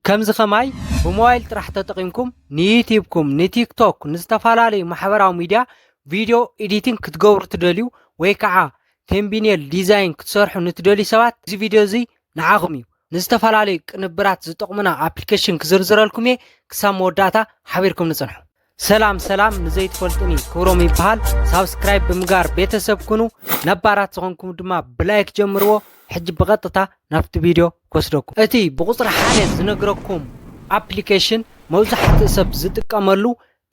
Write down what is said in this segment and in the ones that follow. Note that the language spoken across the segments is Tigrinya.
ከምዚ ከማይ ብሞባይል ጥራሕ ተጠቒምኩም ንዩቲብኩም ንቲክቶክ ንዝተፈላለዩ ማሕበራዊ ሚድያ ቪድዮ ኤዲቲንግ ክትገብሩ ትደልዩ ወይ ከዓ ቴምቢኔል ዲዛይን ክትሰርሑ ንትደልዩ ሰባት እዚ ቪድዮ እዚ ንዓኹም እዩ ንዝተፈላለዩ ቅንብራት ዝጠቕሙና ኣፕሊኬሽን ክዝርዝረልኩም እየ ክሳብ መወዳእታ ሓቢርኩም ንፅንሑ ሰላም ሰላም ንዘይትፈልጡኒ ክብሮም ይበሃል ሳብስክራይብ ብምጋር ቤተሰብ ኩኑ ነባራት ዝኾንኩም ድማ ብላይክ ጀምርዎ ሕጂ ብቐጥታ ናብቲ ቪድዮ ክወስደኩም እቲ ብቁፅሪ ሓደ ዝነግረኩም ኣፕሊኬሽን መብዛሕትኡ ሰብ ዝጥቀመሉ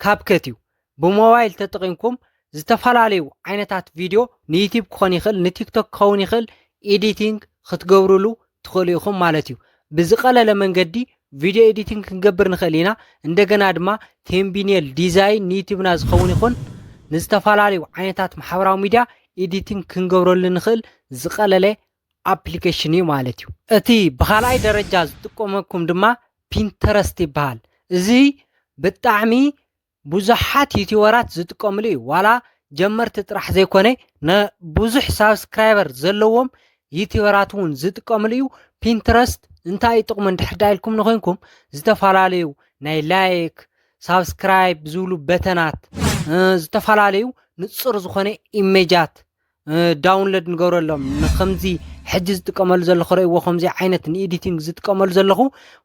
ካብከት እዩ ብሞባይል ተጠቒምኩም ዝተፈላለዩ ዓይነታት ቪድዮ ንዩቲብ ክኾን ይኽእል ንቲክቶክ ክኸውን ይኽእል ኤዲቲንግ ክትገብርሉ ትኽእሉ ኢኹም ማለት እዩ ብዝቀለለ መንገዲ ቪድዮ ኤዲቲንግ ክንገብር ንኽእል ኢና እንደገና ድማ ቴምቢኔል ዲዛይን ንዩቲብና ዝኸውን ይኹን ንዝተፈላለዩ ዓይነታት ማሕበራዊ ሚድያ ኤዲቲንግ ክንገብረሉ ንኽእል ዝቀለለ ኣፕሊኬሽን እዩ ማለት እዩ እቲ ብካልኣይ ደረጃ ዝጥቀመኩም ድማ ፒንተረስት ይበሃል እዚ ብጣዕሚ ብዙሓት ዩቲበራት ዝጥቀምሉ እዩ ዋላ ጀመርቲ ጥራሕ ዘይኮነ ብዙሕ ሳብስክራይበር ዘለዎም ዩቲበራት እውን ዝጥቀምሉ እዩ ፒንትረስት እንታይ እዩ ጥቕሙ እንድሕር ዳ ኢልኩም ንኮይንኩም ዝተፈላለዩ ናይ ላይክ ሳብስክራይብ ዝብሉ በተናት ዝተፈላለዩ ንፁር ዝኾነ ኢሜጃት ዳውንለድ ንገብረሎም ንከምዚ ሕጂ ዝጥቀመሉ ዘለኹ ረእዎ ከምዚ ዓይነት ንኤዲቲንግ ዝጥቀመሉ ዘለኹ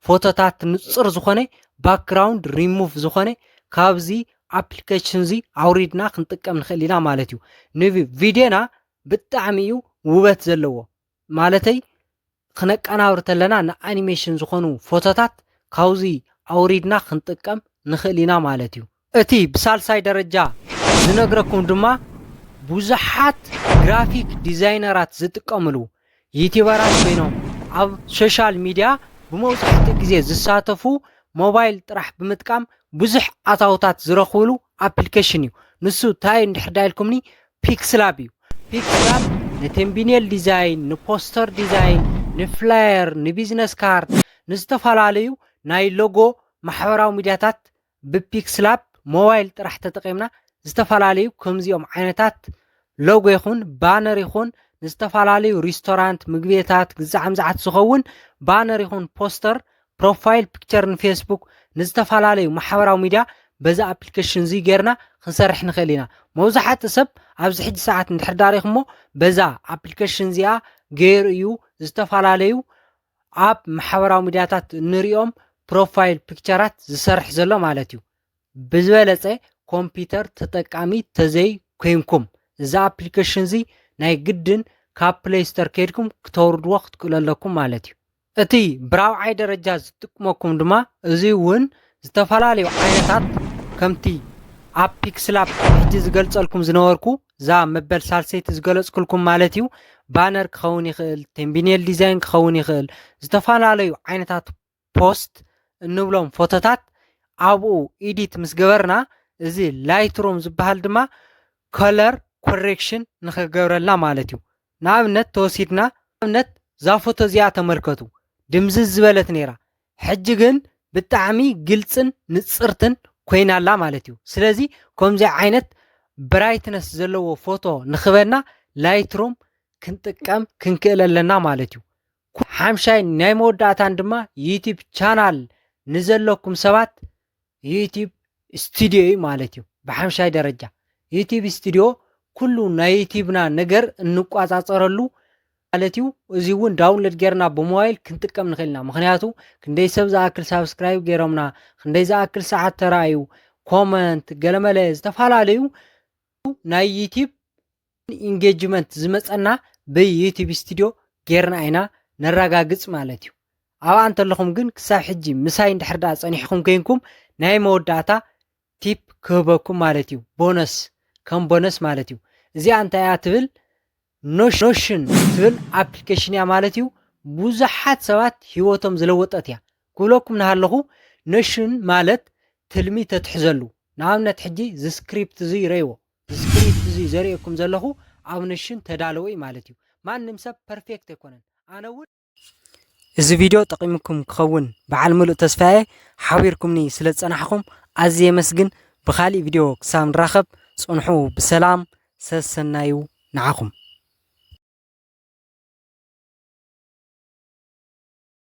ፎቶታት ንፁር ዝኾነ ባክግራውንድ ሪሙቭ ዝኾነ ካብዚ ኣፕሊኬሽን እዚ ኣውሪድና ክንጥቀም ንኽእል ኢና ማለት እዩ ንቪድዮና ብጣዕሚ እዩ ውበት ዘለዎ ማለተይ ክነቀናብር ተለና ንኣኒሜሽን ዝኾኑ ፎቶታት ካብዚ ኣውሪድና ክንጥቀም ንኽእል ኢና ማለት እዩ። እቲ ብሳልሳይ ደረጃ ዝነግረኩም ድማ ብዙሓት ግራፊክ ዲዛይነራት ዝጥቀምሉ ዩቲበራት ኮይኖም ኣብ ሶሻል ሚድያ ብመብዛሕትኡ ግዜ ዝሳተፉ ሞባይል ጥራሕ ብምጥቃም ብዙሕ ኣታውታት ዝረኽብሉ ኣፕሊኬሽን እዩ። ንሱ እንታይ እንድሕር ዳኢልኩምኒ ፒክስላብ እዩ። ፒክስላብ ንቴምቢኔል ዲዛይን፣ ንፖስተር ዲዛይን፣ ንፍላየር፣ ንቢዝነስ ካርድ፣ ንዝተፈላለዩ ናይ ሎጎ ማሕበራዊ ሚድያታት ብፒክስላብ ሞባይል ጥራሕ ተጠቒምና ዝተፈላለዩ ከምዚኦም ዓይነታት ሎጎ ይኹን ባነር ይኹን ንዝተፈላለዩ ሪስቶራንት ምግቤታት ግዛዕምዛዓት ዝኸውን ባነር ይኹን ፖስተር ፕሮፋይል ፒክቸር ንፌስቡክ ንዝተፈላለዩ ማሕበራዊ ሚድያ በዚ ኣፕሊኬሽን እዚ ጌርና ክንሰርሕ ንኽእል ኢና መብዛሕትኡ ሰብ ኣብዚ ሕጂ ሰዓት እንድሕር ዳሪኹሞ በዛ ኣፕሊኬሽን እዚኣ ገይሩ እዩ ዝተፈላለዩ ኣብ ማሕበራዊ ሚድያታት እንሪኦም ፕሮፋይል ፒክቸራት ዝሰርሕ ዘሎ ማለት እዩ ብዝበለፀ ኮምፒውተር ተጠቃሚ ተዘይ ኮይንኩም እዚ ኣፕሊኬሽን እዚ ናይ ግድን ካብ ፕሌይ ስተር ከይድኩም ክተውርድዎ ክትክእሉ ኣለኩም ማለት እዩ እቲ ብራብዓይ ደረጃ ዝጥቅመኩም ድማ እዙይ እውን ዝተፈላለዩ ዓይነታት ከምቲ ኣብ ፒክስላፕ ሕጂ ዝገልጸልኩም ዝነበርኩ እዛ መበል ሳልሰይቲ ዝገለጽኩልኩም ማለት እዩ ባነር ክኸውን ይኽእል ቴምቢኔል ዲዛይን ክኸውን ይኽእል ዝተፈላለዩ ዓይነታት ፖስት እንብሎም ፎቶታት ኣብኡ ኢዲት ምስ ገበርና እዚ ላይትሮም ዝበሃል ድማ ከለር ኮሬክሽን ንክገብረልና ማለት እዩ ንኣብነት ተወሲድና ንኣብነት እዛ ፎቶ እዚኣ ተመልከቱ ድምዝዝ ዝበለት ነይራ ሕጂ ግን ብጣዕሚ ግልፅን ንፅርትን ኮይና ኣላ ማለት እዩ ስለዚ ከምዚ ዓይነት ብራይትነስ ዘለዎ ፎቶ ንክበና ላይትሮም ክንጥቀም ክንክእል ኣለና ማለት እዩ ሓምሻይን ናይ መወዳእታን ድማ ዩቲብ ቻናል ንዘለኩም ሰባት ዩቲብ ስቱድዮ እዩ ማለት እዩ ብሓምሻይ ደረጃ ዩቲብ ስቱድዮ ኩሉ ናይ ዩቲብና ነገር እንቋፃፀረሉ ማለት እዩ እዚ እውን ዳውንሎድ ጌርና ብሞባይል ክንጥቀም ንኽእል ኢና ምክንያቱ ክንደይ ሰብ ዝኣክል ሳብስክራይብ ገይሮምና ክንደይ ዝኣክል ሰዓት ተረኣዩ ኮመንት ገለመለ ዝተፈላለዩ ናይ ዩቲብ ኢንጌጅመንት ዝመጸና ብዩቲብ ስቱድዮ ጌርና ኢና ነራጋግጽ ማለት እዩ ኣብኣ እንተለኹም ግን ክሳብ ሕጂ ምሳይ እንድሕር ድኣ ጸኒሕኹም ኮይንኩም ናይ መወዳእታ ቲፕ ክህበኩም ማለት እዩ ቦነስ ከም ቦነስ ማለት እዩ እዚኣ እንታይ እያ ትብል ኖሽን ትብል ኣፕሊኬሽን እያ ማለት እዩ ብዙሓት ሰባት ህይወቶም ዝለወጠት እያ ክብለኩም ናሃለኹ ኖሽን ማለት ትልሚ ተትሕዘሉ ንኣብነት ሕጂ ዝስክሪፕት እዙይ ረይዎ እዚ ስክሪፕት እዚ ዘርእየኩም ዘለኹ ኣብ ነሽን ተዳለወ እዩ ማለት እዩ። ማንም ሰብ ፐርፌክት ኣይኮነን ኣነ እውን እዚ ቪድዮ ጠቒሙኩም ክኸውን በዓል ምሉእ ተስፋየ ሓቢርኩምኒ ስለ ዝጸናሕኹም ኣዝየ የመስግን ብኻሊእ ቪድዮ ክሳብ ንራኸብ ጽንሑ ብሰላም ሰሰናዩ ንዓኹም።